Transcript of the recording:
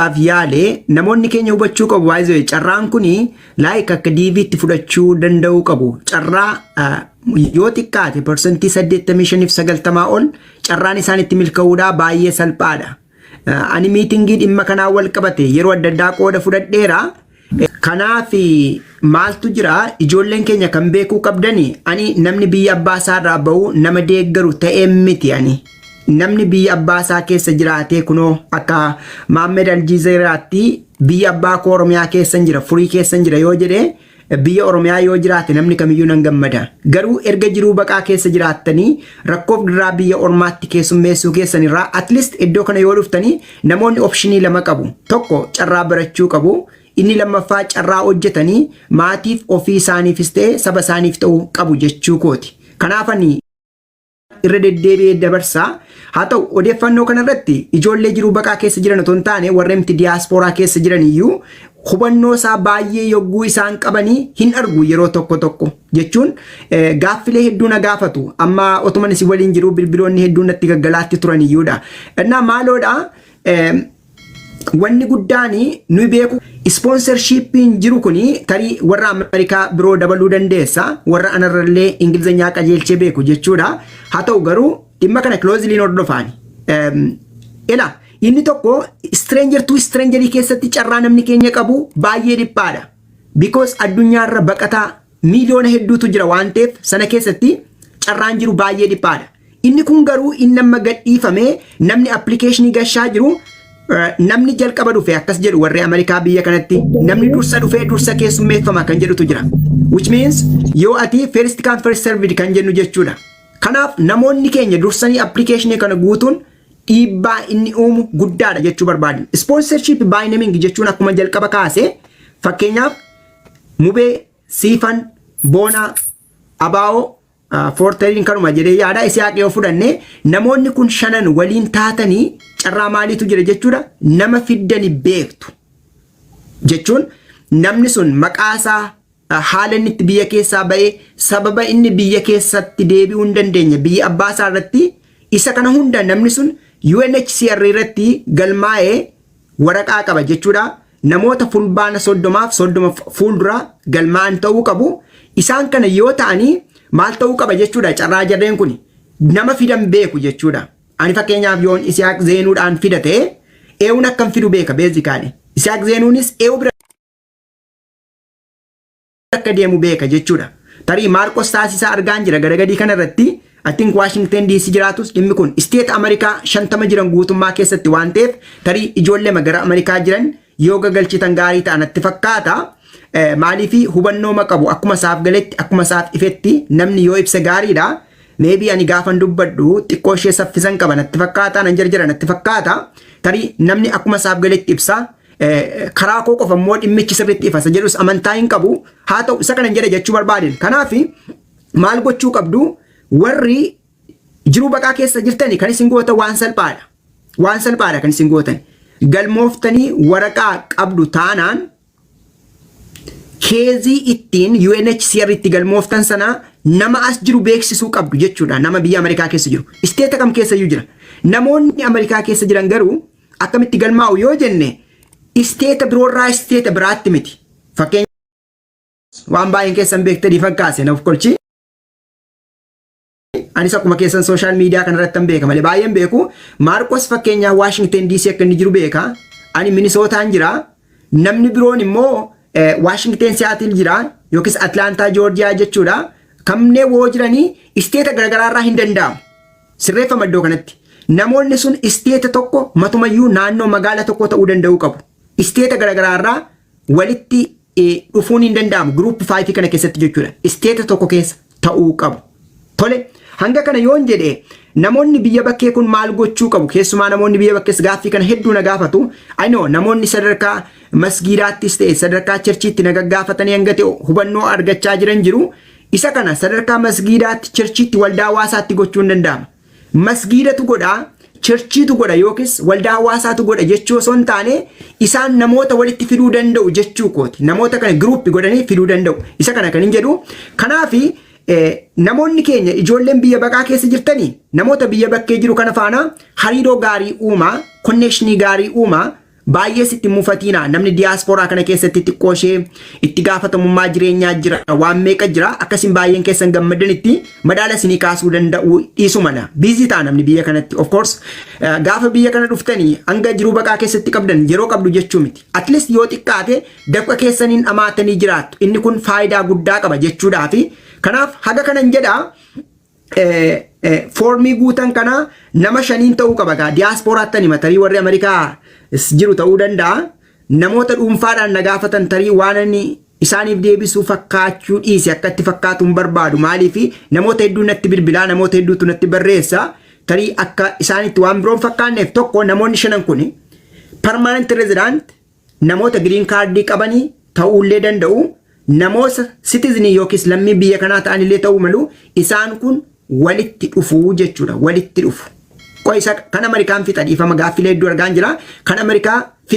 dhaaf yaale namoonni keenya hubachuu qabu baay'ee carraan kun laayik akka diiviitti fudhachuu danda'uu qabu carraa yoo xiqqaate parsantii 85-90 ol carraan isaan itti milka'uudhaa baay'ee salphaadha. Ani miitingii dhimma kanaa wal qabate yeroo adda addaa qooda fudhadheera Kanaaf maaltu jira ijoolleen keenya kan beekuu qabdani ani namni biyya abbaa isaa irraa ba'u nama deeggaru ta'ee miti ani namni biyya abbaa isaa keessa jiraatee kunoo akka Maammed Aljiizeeraatti biyya abbaa koo Oromiyaa keessa jira furii keessa jira yoo jedhe biyya Oromiyaa yoo jiraate namni kamiyyuu nan gammada garuu erga jiruu baqaa keessa jiraattanii rakkoof dirraa biyya ormaatti keessummeessuu keessan irraa at least iddoo kana yoo dhuftanii Namoonni opshinii lama qabu. Tokko carraa barachuu qabu. Inni lammaffaa carraa hojjetanii maatiif ofii isaaniifis ta'e saba isaaniif ta'u qabu jechuu kooti. Kanaaf ani irra deddeebi'ee dabarsa. Haa ta'u odeeffannoo kanarratti ijoollee jiruu baqaa keessa jiran otoo hin taane warremti diyaaspooraa keessa jiran iyyuu hubannoo isaa baay'ee yogguu isaan qabanii hin argu yeroo tokko tokko jechuun gaaffilee hedduu na gaafatu amma otuman isin waliin jiru bilbiloonni hedduu natti gaggalaatti turan iyyuudha innaa maaloodha wanni guddaan nuyi beeku ispoonsarshiippiin jiru kun tarii warra Ameerikaa biroo dabaluu dandeessa warra anarrallee Ingilizanyaa qajeelchee beeku jechuudha haa ta'u garuu dhimma kana kilooziliin hordofaani. Ila Inni tokko stranger to stranger keessatti carraa namni keenya qabu baay'ee dhiphaadha. Because addunyaarra baqataa miiliyoona hedduutu jira waan ta'eef sana keessatti carraan jiru baay'ee dhiphaadha. Inni kun garuu inni amma gadhiifame namni appilikeeshinii gashaa jiru eh, namni jalqaba dhufe akkas jedhu warri Ameerikaa biyya kanatti namni dursa dhufee dursa keessummeeffama kan jedhutu jira. Which means yoo ati first come first served kan jennu jechuudha. Kanaaf namoonni keenya dursanii appilikeeshinii kana guutuun dhiibbaa inni uumu guddaadha jechuu barbaadna. Ispoonsarshiip baayinaming jechuun akkuma jalqaba kaase fakkeenyaaf mubee, siifan, boonaa, abaa'oo, foortariin kanuma jedhee yaada isiyaaq yoo fudhanne namoonni kun shanan waliin taatanii carraa maaliitu jira jechuudha nama fiddani beektu jechuun namni sun maqaasaa Haala inni itti biyya keessaa ba'e, sababa inni biyya keessatti deebi'uu hin dandeenye, biyya abbaa isaa irratti isa kana hunda namni sun UNHCR irratti galmaa'ee waraqaa qaba jechuudha. Namoota fulbaana soddomaaf soddoma fuuldura galmaa'an ta'uu qabu. Isaan kana yoo ta'anii maal ta'uu qaba jechuudha carraa jarreen kun nama fidan beeku jechuudha. Ani fakkeenyaaf yoon Isiyaaq Zeenuudhaan fida ta'e eewun akkan fidu beeka beezikaadhe. Isiyaaq Zeenuunis eewu bira akka deemu beeka jechuudha. Tarii Maarqos taasisaa argaan jira gadagadii kana irratti I think Washington DC jiraatus dhimmi kun isteet Ameerikaa shantama jiran guutummaa keessatti waan ta'eef tarii ijoollema gara Ameerikaa jiran yoo gagalchitan gaarii ta'a natti fakkaata. Maaliif hubannooma qabu akkuma isaaf galetti akkuma isaaf ifetti namni yoo ibse gaariidha. Meebii ani gaafan dubbadhu xiqqoo ishee saffisan qaba natti fakkaata nan jarjara natti fakkaata. Tarii namni akkuma isaaf galetti ibsa karaa koo qofa immoo dhimmichi sirriitti ifasa jedhus amantaa hin qabu haa ta'u isa kanan jedhe jechuu barbaadeen kanaaf maal gochuu qabdu warri jiruu baqaa keessa jirtani kan isin gootan waan salphaadha waan salphaadha kan isin gootan galmooftanii waraqaa qabdu taanaan keezii ittiin UNHCR itti galmooftan sana nama as jiru beeksisuu qabdu jechuudha nama biyya Ameerikaa keessa jiru isteeta kam keessa iyyuu jira namoonni Ameerikaa keessa jiran garuu Akkamitti galmaa'u yoo jenne isteeta biroorraa isteeta biraatti miti. Fakkeenya waan baay'een keessan beektanii fakkaase nuuf kolchi. Anis akkuma keessan sooshaal miidiyaa kanarratti hin beeka malee baay'een beeku. Maarqos fakkeenyaa Waashingten DC akka inni jiru beeka. Ani Minisootaan jira. Namni biroon immoo Waashingten Siyaatil jira yookiis Atlaantaa Joorjiyaa jechuudha. Kanneen woo jiranii isteeta garaagaraarraa hin danda'amu. Sirreeffama iddoo kanatti. Namoonni sun isteeta tokko matumayyuu naannoo magaala tokkoo ta'uu danda'uu qabu. Isteeta garaagaraa irraa walitti dhufuun hin danda'amu. Giruup 5 kana keessatti jechuudha. Isteeta tokko keessa ta'uu qabu. Tole hanga kana yoon jedhe namoonni biyya bakkee kun maal gochuu qabu? Keessumaa namoonni biyya bakkees gaaffii kana hedduu na gaafatu. Anoo namoonni sadarkaa masgiidaattis ta'e sadarkaa cherchiitti na gaggaafatanii hanga ta'e hubannoo argachaa jiran jiru. Isa kana sadarkaa masgiidaatti, chirchiitti, waldaa hawaasaatti gochuun danda'ama. Masgiidatu godha, chirchiitu godha yookiis waldaa hawaasaatu godha jechuu osoo hin taane isaan namoota walitti fiduu danda'u jechuu kooti. Namoota kana giruuppi godhanii fiduu danda'u. Isa kana kan hin jedhu. Kanaaf namoonni keenya ijoolleen biyya baqaa keessa jirtanii namoota biyya bakkee jiru kana faana hariiroo gaarii uumaa, konneeshinii gaarii uumaa, Baay'ees itti hin mufatiinaa namni diyaaspooraa kana keessatti xiqqoo ishee itti gaafatamummaa jireenyaa jira waan meeqa jira akkasiin baay'een keessan gammadanitti madaala isinii kaasuu danda'u dhiisu mana biizii ta'a namni biyya kanatti of course eh, gaafa biyya kana dhuftanii hanga jiruu baqaa keessatti qabdan yeroo qabdu jechuu miti at least yoo xiqqaate dafqa keessaniin dhamaatanii jiraattu inni kun faayidaa guddaa qaba jechuudhaa fi kanaaf haga kanan jedhaa foormii guutan kana nama shaniin ta'uu qaba gaa diyaaspooraattan hima tarii warri Ameerikaa jiru ta'uu danda'a namoota dhuunfaadhaan na gaafatan tarii waan inni isaaniif deebisuu fakkaachuu dhiise akka itti fakkaatu hin barbaadu maaliif namoota hedduu natti bilbilaa namoota hedduutu natti barreessa tarii akka isaanitti waan biroon fakkaanneef tokko namoonni shanan kun permanent resident namoota giriin kaardii qabanii ta'uullee danda'u, namoota sitizinii yookiis lammii biyya kanaa ta'anillee ta'uu malu, isaan kun walitti dhufu jechuudha. Walitti dhufu. Qo'isa kan Amerikaan fixa dhiifama gaaffilee hedduu argaan jira. Kan Amerikaa fixa.